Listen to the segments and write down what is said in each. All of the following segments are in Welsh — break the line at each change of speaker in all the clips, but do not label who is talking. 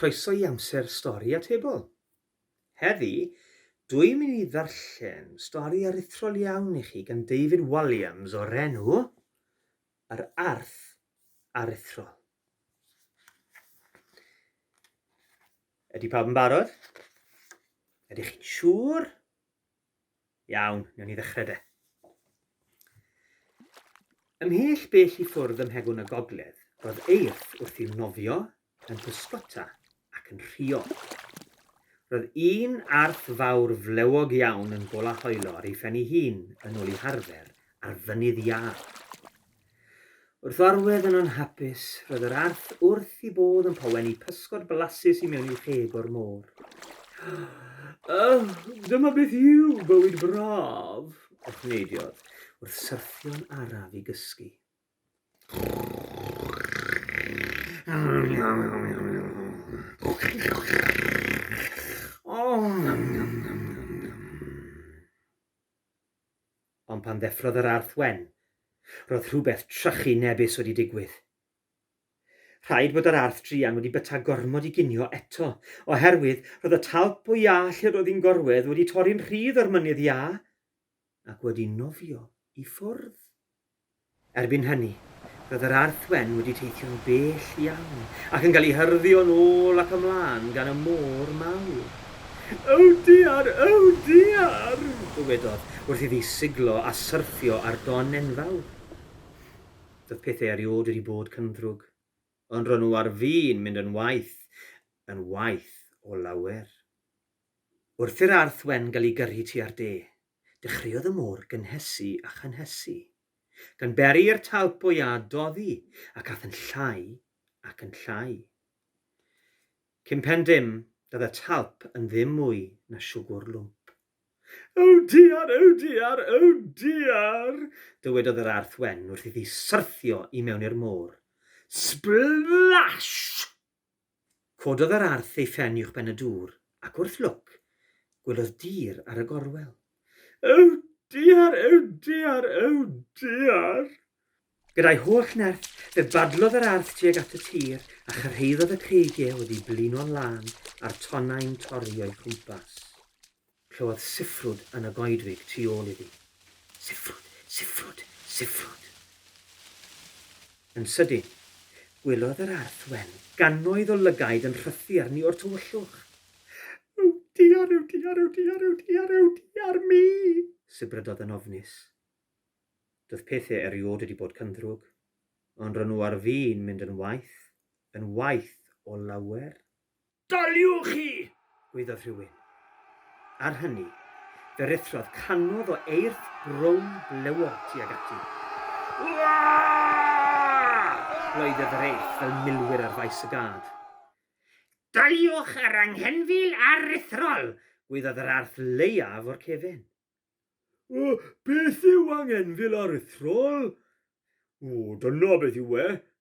Croeso i amser stori atebol. Heddi, dwi'n mynd i ddarllen stori aruthrol iawn i chi gan David Walliams o'r enw Yr Arth aruthrol. Ydy pawb yn barod? Ydych chi'n siŵr? Iawn, newn ni ddechrau de. Ymhell bell i ffwrdd ym mhegwn y gogledd, roedd eirth wrth i'w nofio yn pysgota ac yn rhuo. Roedd un arth fawr flewog iawn yn gola hoelo ar ei phen ei hun yn ôl ei harfer ar fynydd iâ. Wrth orwedd yn anhapus, roedd yr arth wrth i bodd yn poweni pysgod blasus i mewn i'w rheg o'r môr. Ych, dyma beth yw bywyd braf! echnneidiodd, wrth syrthio'n araf i gysgu. Ond pan ddeffrodd yr arth wen, roedd rhywbeth trychu nebis wedi digwydd. Rhaid bod yr arth druan wedi byta gormod i ginio eto, oherwydd roedd y talp o iâ lle roedd hi'n gorwedd wedi torri'n rhydd o'r mynydd iâ. ac wedi nofio i ffwrdd. Erbyn hynny, roedd yr Arth Wen wedi teithio'n bell iawn ac yn cael ei hyrddo'n ôl ac ymlaen gan y môr mawr. Oh dear! Oh dear! dywedodd, wrth iddi siglo a syrthio ar don enfawr. Doedd pethau eriod wedi bod cyndrwg, ond ro'n nhw ar fin mynd yn waeth, yn waeth o lawer. Wrth i'r arth wen gael ei gyrru tua'r de, dechreuodd y môr gynhesu a chynhesu, gan beri i'r talp o iâ doddi, ac ath yn llai ac yn llai. Cyn pen dim, doedd y talp yn ddim mwy na siwgwr lwmp. O diar, o diar, o diar! dywedodd yr arth wen wrth iddi syrthio i mewn i'r môr. Sblash! Cododd yr arth ei phen uwchben y dŵr, ac wrth lwc, gwelodd dir ar y gorwel. Ew diar, ew diar, ew diar! Gyda'i holl nerth, fe badlodd yr arth tuag at y tir a chyrhaeddodd y creigiau oddi blino'n lân a'r tonnau'n torri o'i chwmpas. Clywodd siffrwd yn y goedwig tu ôl iddi. Siffrwd! Siffrwd! Siffrwd! Yn sydyn, gwelodd yr Arth Wen gannoedd o lygaid yn rhythu arni o'r tywyllwch. Yw diar, yw diar, yw diar, yw diar, yw diar mi! sibrydodd yn ofnus. Doedd pethe eriod wedi bod cyndrwg, ond ro' nhw ar fin mynd yn waeth, yn waeth o lawer. Daliwch hi! gwaeddodd rhywun. Ar hynny, fe ruthrodd canodd o eirth rownd blewog tuag ati. Wah! gloedded yr eirth fel milwyr ar faes y gad. Daliwch yr anghenfil aruthrol! gwaeddodd yr arth leiaf o'r cefn. O, beth yw anghenfil aruthrol? O, dyna beth yw e,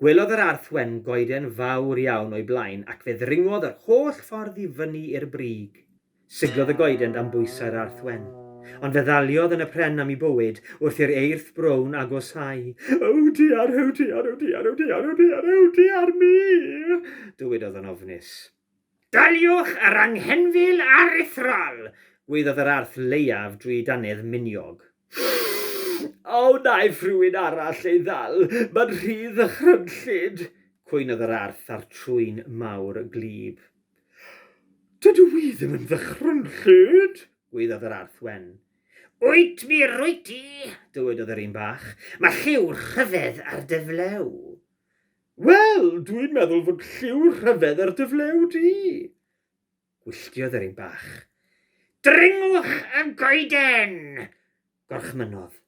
Gwelodd yr Arth Wen goeden fawr iawn o'i blaen ac fe ddringodd yr holl ffordd i fyny i'r brig. Siglodd y goeden dan bwysau'r Arth Wen. Ond fe ddaliodd yn y pren am 'i bywyd wrth i'r eirth brown agosáu. Ew diar, ew diar, ew diar, ew diar, ew diar, ew diar mi! dywedodd yn ofnus. Daliwch yr anghenfil aruthrol! gwaeddodd yr arth leiaf drwy ei dannedd miniog. A wnaiff rhywun arall ei ddal? Mae'n rhy ddychrynllyd! cwynodd yr arth a'r trwyn mawr gwlyb. Dydw i ddim yn ddychrynllyd! gwaeddodd yr arth wen. Wyt mi rwyt ti! dywedodd yr un bach. Mae lliw rhyfedd ar dy flew. Wel, dwi'n meddwl fod lliw rhyfedd ar dy flew di! Gwylltiodd yr un bach. Dringwch y goeden! gorchmynnodd.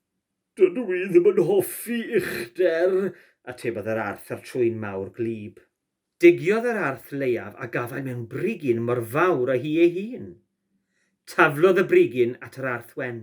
Dydw i ddim yn hoffi uchder, atebodd yr arth a'r trwyn mawr gwlyb. Digiodd yr arth leiaf a gafai mewn brigyn mor fawr â hi ei hun. Taflodd y brigyn at yr arth wen.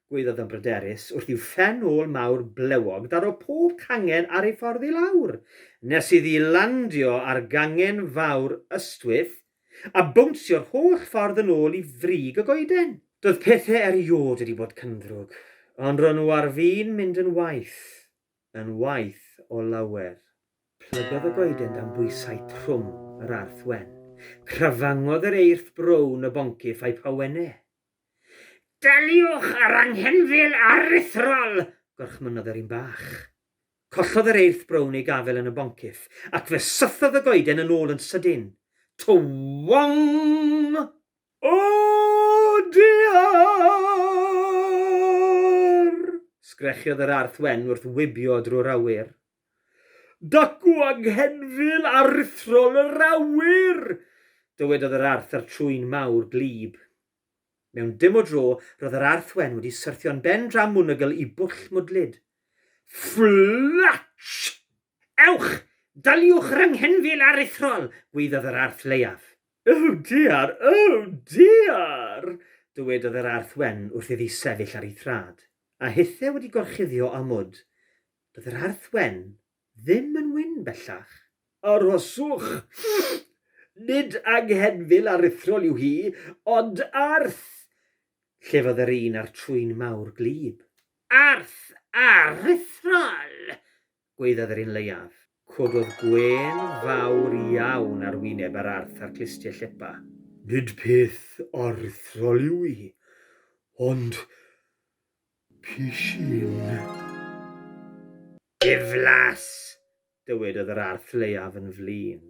Gweiddodd yn bryderus wrth i'w phen ôl mawr blewog daro pob cangen ar ei ffordd i lawr, nes iddi landio ar gangen fawr ystwyth, a bownsio'r holl ffordd yn ôl i frig y goeden. Doedd pethe eriôd wedi bod cyndrwg, ond ro'n nhw ar fin mynd yn waeth, yn waeth o lawer. Plygodd y goeden dan bwysau trwm yr arth wen. Crafangodd yr eirth brown y boncyff a'i phawenne. Daliwch â'r anghenfil aruthrol! gorchmynnodd yr un bach. Collodd yr eirth brown ei gafael yn y boncyff, ac fe sythodd y goeden yn ôl yn sydyn. Twong! O dear! sgrechiodd yr arth wen wrth wibio drwy'r awyr. Dacw anghenfil aruthrol yr awyr! dywedodd yr Arth a'r trwyn mawr gwlyb. Mewn dim o dro, roedd yr Arth Wen wedi syrthio'n ben dra mwnnygl i bwll mwdlyd. Fflatsh! Ewch! Daliwch yr anghenfil aruthrol! gwaeddodd yr Arth Leiaf. Oh dear! Oh dear! dywedodd yr Arth Wen wrth iddi sefyll ar ei thraed, a hithe wedi gorchuddio â mwd. Doedd yr Arth Wen ddim yn wyn bellach. Arhoswch! Nid anghenfil aruthrol yw hi, ond arth! llefodd yr un â'r trwyn mawr gwlyb. Arth aruthrol! gwaeddodd yr un leiaf. Cododd gwên fawr iawn ar wyneb yr Arth a'r clustie llepa. Nid peth aruthrol yw hi, ond pishyn. Diflas! dywedodd yr arth leiaf yn flin.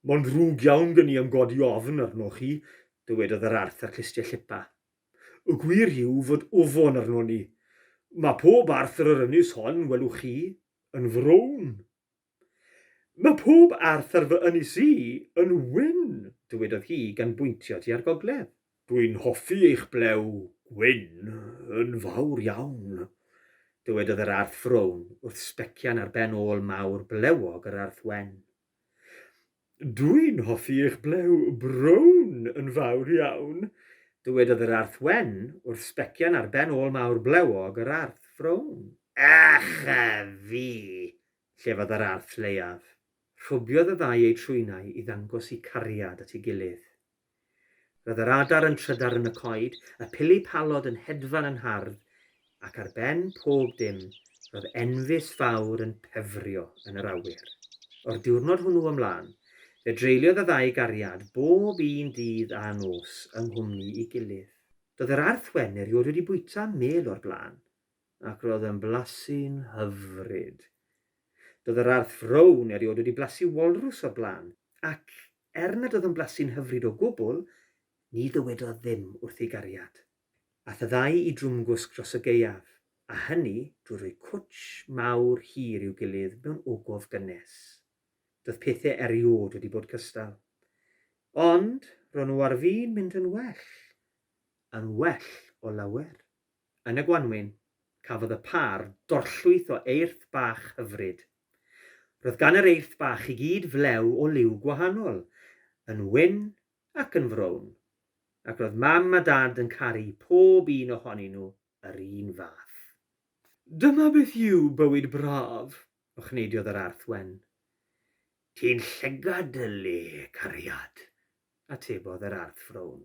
Mae'n ddrwg iawn gen i am godi ofn arnoch chi, dywedodd yr arth â clustiau llipa. Y gwir yw fod ofon arnon ni. Mae pob arth ar yr ynys hon, welwch chi, yn frown. Mae pob arth ar fy ynys i yn wyn, dywedodd hi gan bwyntio tua'r gogledd. Dwi'n hoffi eich blew gwyn yn fawr iawn, dywedodd yr arth frown wrth sbecian ar ben ôl mawr blewog yr arth wen. Dwi'n hoffi eich blew brown yn fawr iawn! Dywedodd yr Arth Wen wrth sbecian ar ben ôl mawr blewog yr Arth Frown. Ych a fi! llefodd yr Arth Lleiaf. Rhwbiodd y ddau eu trwynau i ddangos 'u cariad at ei gilydd. Roedd yr adar yn trydar yn y coed, y pili palod yn hedfan yn hardd, ac ar ben pob dim, roedd enfys fawr yn pefrio yn yr awyr. O'r diwrnod hwnnw ymlaen, fe dreuliodd y ddau gariad bob un dydd a nos yng nghwmni'i gilydd. Doedd yr Arth Wen erioed wedi bwyta mêl o'r blaen, ac roedd yn blasu'n hyfryd. Doedd yr Arth Frown erioed wedi blasu walrws o'r blaen, Ac er nad oedd yn blasu'n hyfryd o gwbl, ni ddywedodd ddim wrth ei gariad. Ath y ddau i Drwmgwsg dros y gaeaf, a hynny drwy roi cwtsh mawr hir i'w gilydd mewn ogof gynnes. Doedd pethe eriôd wedi bod cystal. Ond ro'n nhw ar fin mynd yn well. Yn well o lawer. Yn y gwanwyn, cafodd y pâr dorllwyth o eirth bach hyfryd. Roedd gan yr Eirth Bach i gyd flew o liw gwahanol, yn wyn ac yn frown, ac roedd Mam a Dad yn caru pob un ohonyn nhw yr un fath. Dyma beth yw bywyd braf! ochneidiodd yr Arth Wen. Ti'n llygad, Dyllu, cariad! atebodd yr Arth Frown.